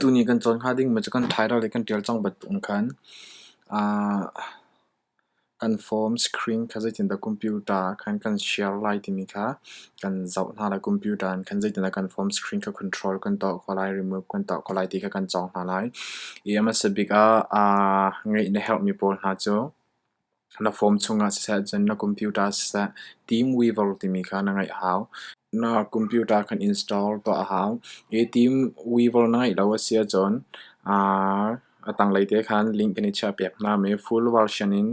Tuni kan cawn hnga ding mi cu kan title le kan tial cang bantuk in khan kan form screen kha zeitindah computer khan kan share lai timi kha kan zoh hna lai. Computer in khan zeitindah kan form screen kha control kan tuah khawh lai, remove kan tuah khawh lai ti kha kan cawng hna lai. I a hmasa bik ah ngeih na herh mi pawl hna cu. Na phone chungah siseh cun na computer siseh Team Weaver timi kha na ngeih a hau. Na computer kan install tuah a hau. Hi Team Weaver na ngeih lo a si ahcun a tanglei te khan link in i chiah piak hna. Mi full version in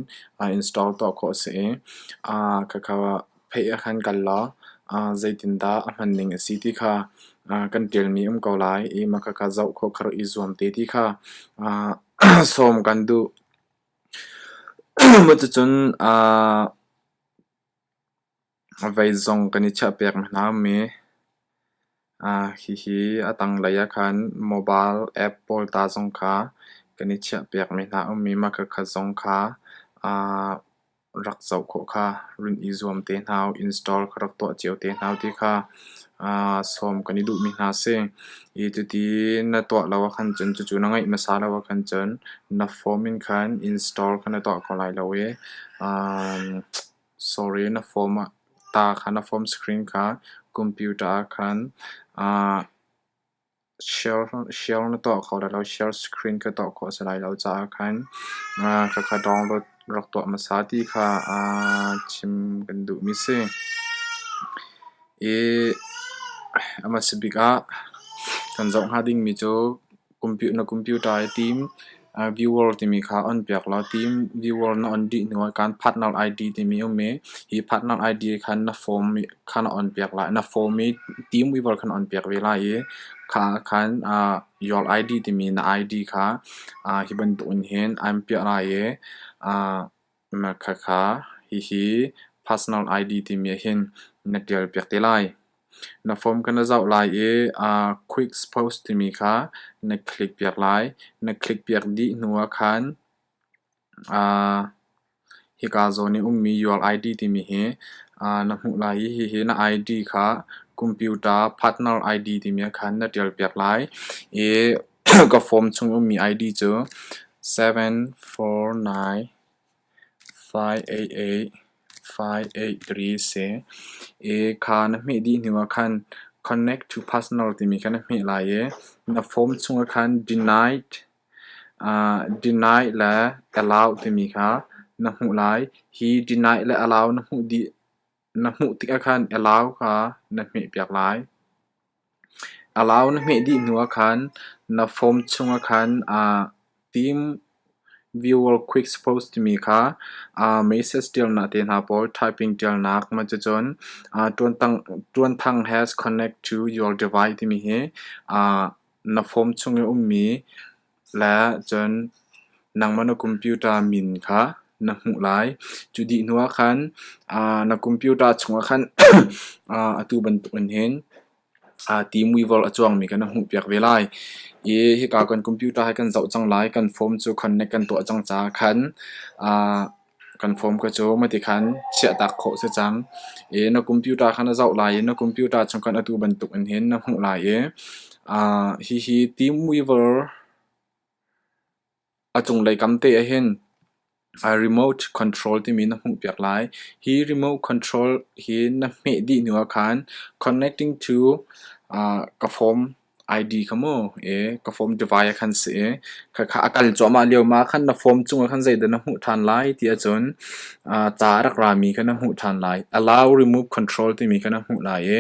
install tuah khawh a si i khakha pheih ah khan kal law zeitindah a hman ning a si ti kha kan ṭialmi um ko lai i ma khakha zoh khawh kha rak i zuam te ti kha sawm kan duh. Cuticun vei zong kan i chiah pek hna mi. Hihi a tanglei ahkhan mobile app pawl ta zong kha kan i chiah piak mi hna um i, mahka khat zong kha rak zoh khawh kha run i zuam te hna u, install ka rak tuah cio te hna u ti kha aa sawm kan i duhmi hna a si. I cuti na tuah lo ahkhan cun cucu na ngeih hmasa lo ahkhan cun na form in khan install kha na tuah kho lai lo i um sorry na form ah ta kha na form screen kha computer ah khan aa Share na tuah kho lai lo, share screen ka tuah khawh a si lai lo caah khan kha kha download rak tuah hmasa ti kha chim kan duhmi a si. I a hmasa bik ah kan zoh hnga dingmi cu na computer i tim. Viewer timi kha on piak law team viewer na on dih hnu ah kaan partner ID timi a um i hi partner ID kha na form kha na on piak lai. Na form i team viewer kha na on piak ve lai i kha ah khan your ID timi na ID kha hi bantuk in hin aan piah lai i Na khakha hihi personal ID timi ahhin na ṭialpiak te lai. Na form ka na zoh lai i aa quick post timi kha na click piak lai. Na click piak dih hnu ahkhan aa hika zawn i ummi your ID timi hi aa na hmuh lai i hihi na ID kha computer partner ID timi ahkhan na ṭialpiak lai i ka form chung i ummi I_D cu seven four nine five eight eight five eight three si i kha na hmeh dih hnu ah khan connect to personal timi kha na hmeh lai i na form chung ah khan denied uh denied le allow timi kha na hmuh lai hi denied le allow na hmuh dih Na hmuh tikah khan alau kha na hmehpiak lai. Alau na hmeh dih hnuah khan na phone chungah khan aa tim. Viewer quick post timi kha aa message ṭialnak te hna pawl typing ṭialnak cucun aa ṭuanthang has connect to your device timi hi aa na phone chung i ummi La cun nangmah na computer min kha na hmuh lai. Cu dih hnu ah khan na computer chungah khan atu bantukin hin T-Mobile a cuangmi kha na hmuhpiak ve lai. I hika kan computer hi kan zoh cang lai. Kan form cu connect kan tuah cang caah khan Kan fom ka cu mati khan chiahtak khawh si cang i na computer kha na zoh lai i na computer chung khan atu bantuk in hin na hmuh lai i aa hihi Teamweaver a cunglei kam te ah hin aa remote control timi na hmuh piak lai. Hi remote control hi na hmeh dih hnu ah khan connecting to aa ka fom ID kha maw ee ka form divai ah khan si ee khakha a kal cuahmah lio ma khan na form cungah khan zeidah na hmuh ṭhan lai ti ahcun aa ca a rak rami kha na hmuh ṭhan lai allow remove control timi kha na hmuh lai i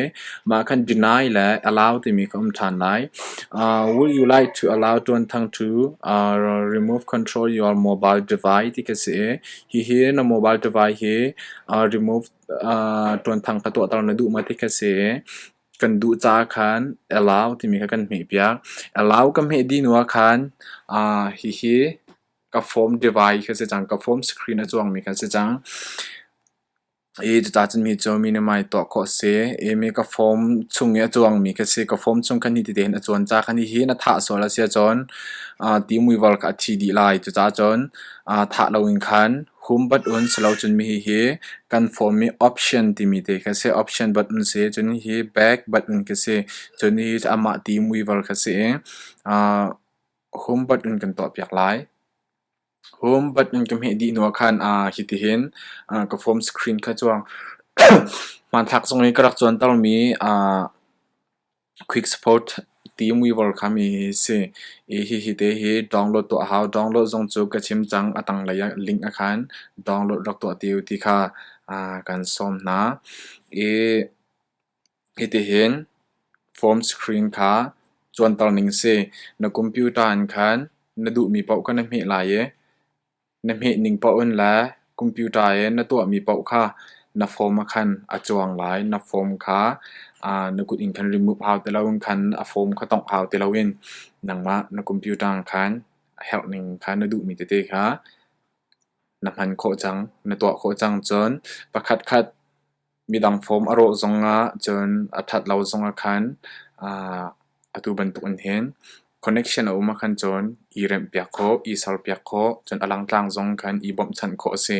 mah khan deny le allow timi kha um ṭhan lai uh, would you like to allow ṭuanthang to uh, remove control your mobile device ti ka si i hihi na mobile device hi uh, remove uh, ṭuanthang ka tuahter na duh ma ti ka si Kan duh caah khan Alau timi kha kan hmehpiak. Alau ka hmeh dih hnu ah khan aa hihi ka phone device kha si cang, ka phone screen a cuangmi kha si cang. Hi cucacun mi cu minimai tuah khawh a si. Imi ka phone chung i a cuangmi kha si. Ka phone chung khan hiti tehin a cuan ca khan hihi na thah sual a si ahcun aa ti muival kha a thi dih lai. Cucacun aa thah loin khan Humbat un si lo cun hihi kan form i option timi te kha a si. Option bat un si cun hihi bag bat un khi a si. Cun hihi cu amah ti muiver kha a si i aa humbat un kan tuah piak lai. Humbat un kan hmeh dih hnu ah khan aa hitihin aa ka form screen kha cu hmanthlak zong i ka rak cuantermi aa Quicksport ti-weaver kha mi hi a si i hihi te hi download tuah a hau. Download zong cu ka chim cang a tanglei ah link a khan download rak tuah ti u ti kha kan sawm hna. I hitihin form screen kha cuanter ning a si. Na computer in khan na duhmi paoh kha na hmeh lai i Na hmeh ning paoh in le computer i na tuahmi paoh kha na phone ah khan a cuang lai. Na phone kha na kut in khan remove hau ti loin khan a phone kha tongh hau ti loin nangmah na computer ah khan a herh ning kha na duhmi tete kha na hman khawh cang. Na tuah khawh cang cun pakhat khat midang fawm a rawh zongah cun a ṭhat lo zongah khan atu bantukin hin connection a um ahkhan cun i remhpiak khawh, i serpiak khawh, cun a langtlang zong khan i bawmhchanh khawh a si.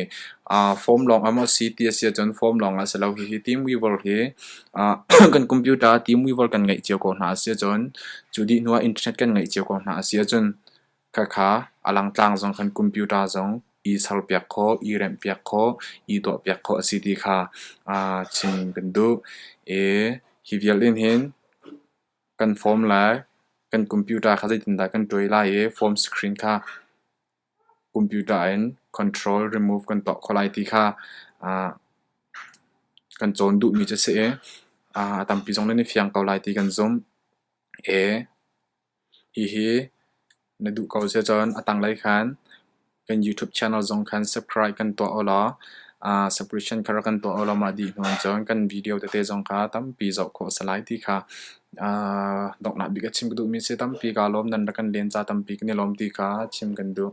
Fawm lawng a maw si ti a si ahcun fawm lawngah si lo hihi Teamweaver hi kan computer Teamweaver kan ngeih cio ko hna a si ahcun cu dih hnuah internet kan ngeih cio ko hna a si ahcun Khakha a langtlang zong khan computer zong i serpiak khawh, i remhpiak khawh, i tuahpiak khawh a si ti kha chim kan duh. I hi vialte hin kan form lai, kan computer kha zeitindah kan tuai lai i form screen kha computer in control remove kan tuah khawh lai ti kha kan cawn duhmi cu a si i a tampi zong nan i fiang ko lai ti kan zumh. Hihi na duh ko sia cun a tanglei khan kan YouTube channel zong khan subscribe kan tuah ulaw subscription kha rak kan tuah ulaw mah dih hnu cun kan video tete zong kha tampi zoh khawh a si lai ti kha donghnak bik a chim ka duhmi a si. Tampi kaa lawm nan rak kan len ca tampi kan i lawm ti kha chim kan duh.